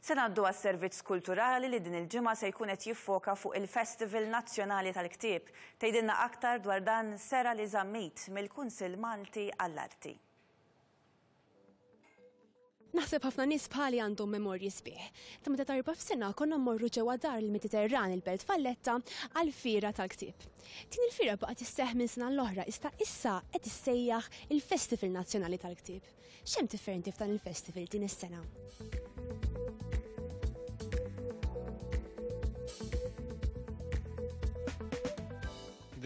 Se ngħaddu għas-servizz kulturali li din il-ġimgħa se jkun qed jiffoka fuq il-Festival Nazzjonali tal-Ktieb. Tgħidilna aktar dwar dan Serali Zammit mill-Kunsill Malti għall-Arti. Naħseb ħafna nies bħali għandhom memorji sbieħ. Ta' meta tarba f'sena konna mmorru ġewwa dar il-Mediterran il-Belt Valletta għal fira tal-ktieb. Din il-fira baqgħet isseħħ minn sena l-oħra iżda issa qed issejjaħ il-Festival Nazzjonali tal-Ktieb. X'hemm differenti f'dan il-festival din is-sena?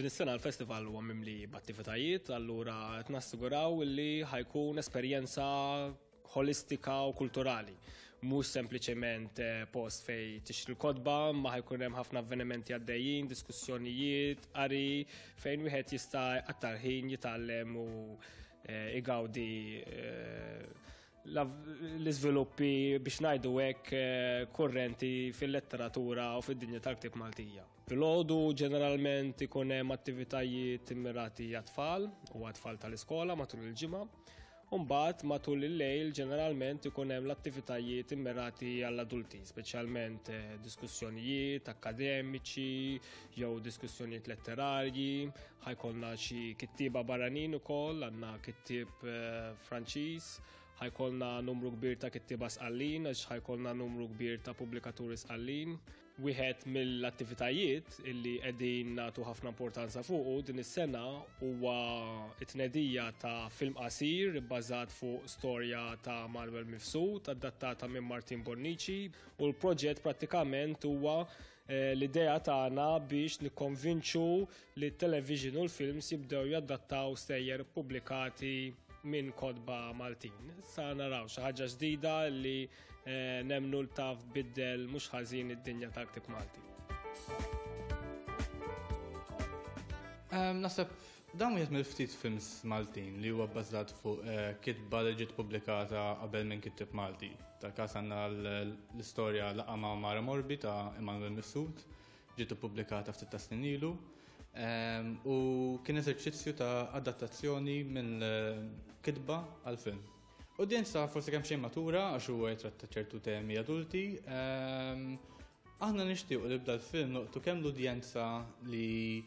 Din is-sena l-festival huwa mimli b'attivitajiet, allura qed nassiguraw li ħajkun esperjenza holistika u kulturali. Mhux sempliċement eh, post fej tixtri l-kodba, ma ħajkun hemm ħafna avvenimenti għaddejjin, diskussjonijiet, qari, fejn wieħed jista' għattar ħin jitgħallem u Eh, igawdi eh, l-iżviluppi biex ngħidu hekk eh, kurrenti fil-letteratura u fid-dinja tal-ktib Maltija. Fil-ħodu ġeneralment ikun hemm attivitajiet immirati għat-tfal u għat-tfal tal-iskola matul il-ġimgħa. Umbat matul il-lejl ġeneralment ikun hemm l-attivitajiet immirati għall-adulti, speċjalment eh, diskussjonijiet akademiċi jew diskussjonijiet letterarji, ħajkonna xi kittieba barranin ukoll, għandna kittib eh, Franċiż, ħajkonna numru kbir ta' kittieba sqallin, għax ħajkonna numru kbir ta' pubblikaturi sqallin. Wieħed mill-attivitajiet illi qegħdin nagħtu ħafna importanza fuqu din is-sena huwa t-tnedija ta' film qasir bbażat fuq storja ta' Manuel Mifsud adattata minn Martin Bonnici u l-proġett prattikament huwa Eh, l-idea tagħna biex nikkonvinċu li t-television u l-films jibdew jaddattaw sejjer publikati minn kodba Maltin. Sa naraw xi ħaġa ġdida li eh, nemnu l-taf biddel mhux ħażin id-dinja tal-ktib Malti. Ehm, Nasab Dan wieħed mill-ftit films Maltin li huwa bbażat fuq kitba li ġiet pubblikata qabel minn kittieb Malti. Tal-każ għandna l-istorja Laqgħa ma' Mara Morbi ta' Immanuel Mifsud, ġiet ippubblikata ftit tas-snin ilu, u kien eżerċizzju ta' adattazzjoni mill-kitba għall-film. Udjenza forsi kemmxejn matura għax huwa jitratta ċertu temi adulti, aħna nixtiequ li b'dal-film nolqtu kemm l-udjenza li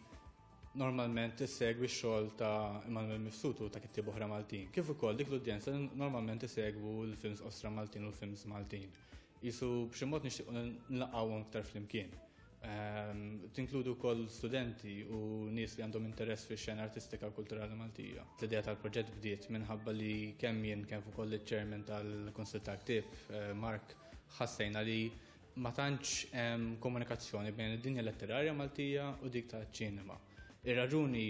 normalment tissegwi x-xogħol ta' Immanuel Mifsud u ta' kittieb oħra Maltin. Kif ukoll dik l-udjenza normalment tissegwu l-films ostra Maltin u l-films Maltin. Isu b'xi mod nixtieq nlaqgħuhom iktar flimkien. Ehm, tinkludu wkoll studenti u nies li għandhom interess fix xena artistika u kulturali Maltija. L-idea tal-proġett bdiet minħabba li kemm jien kemm ukoll iċ-chairman tal-Kunsil tal-Ktib, eh, Mark, ħassejna li Ma tantx hemm komunikazzjoni bejn id-dinja letterarja Maltija u dik taċ-ċinema. Ir-raġuni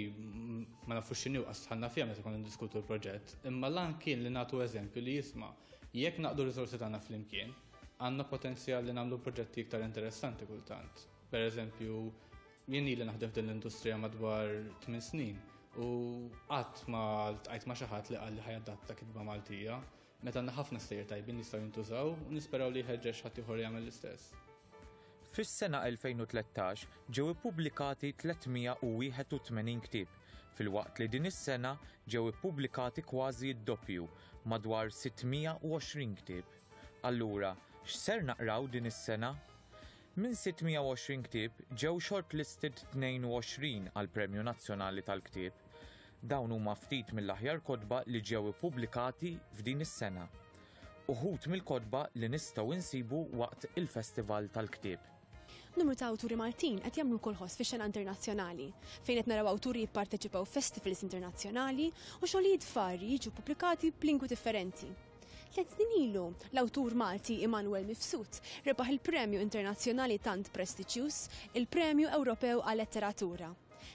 ma nafux x'inhi u qasħalna fiha meta konna ndiskutu l-proġett, imma l-għan kien li nagħtu eżempju li jisma' jekk naqdu r-riżorsi tagħna flimkien, għandna potenzjal li nagħmlu proġetti iktar interessanti kultant. Per eżempju, jien ili naħdem f'din l-industrija madwar 8 snin u qatt ma tqajt ma' xi ħadd li qal li ħajadatta kitba Maltija. Meta għandna ħafna stejjer tajbin li jistgħu jintużaw u nisperaw li jħeġġeġ ħaddieħor jagħmel l-istess. Fis-sena 2013 ġew ippubblikati 381 ktieb, filwaqt li din is-sena ġew ippubblikati kważi d-doppju, madwar 620 ktieb. Allura, x'ser naqraw din is-sena? Minn 620 ktieb ġew shortlisted 22 għall-Premju Nazzjonali tal-Ktieb. Dawn huma ftit mill-aħjar kotba li ġew ippubblikati f'din is-sena. Uħud mill-kotba li nistgħu insibu waqt il-Festival tal-Ktieb. Numru ta' awturi Maltin qed jagħmlu kolħos fix-xena internazzjonali, fejn qed naraw awturi jipparteċipaw f'festivals internazzjonali u xogħlijiet varji jiġu ppubblikati b'lingwi differenti. Tliet snin ilu, l-awtur Malti Immanuel Mifsud rebaħ il-premju internazzjonali tant prestiġjuż, il-Premju Ewropew għal-Letteratura.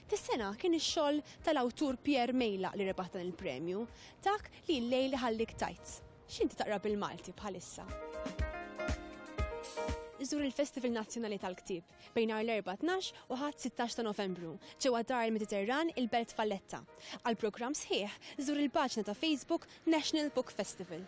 Fis-sengħa kien ix-xogħol tal-awtur Pierre Mejlaq li rebaħ dan il-premju, dak li l-lejl iħallik tajt, X'inti taqra bil-Malti bħalissa? iżżur il-Festival Nazzjonali tal-Ktieb bejn nhar l-Erbgħa 12 u Ħadd 16 ta' Novembru ġewwa Dar il-Mediterran il-Belt Valletta. Għal programm sħiħ, żur il-paġna ta' Facebook National Book Festival.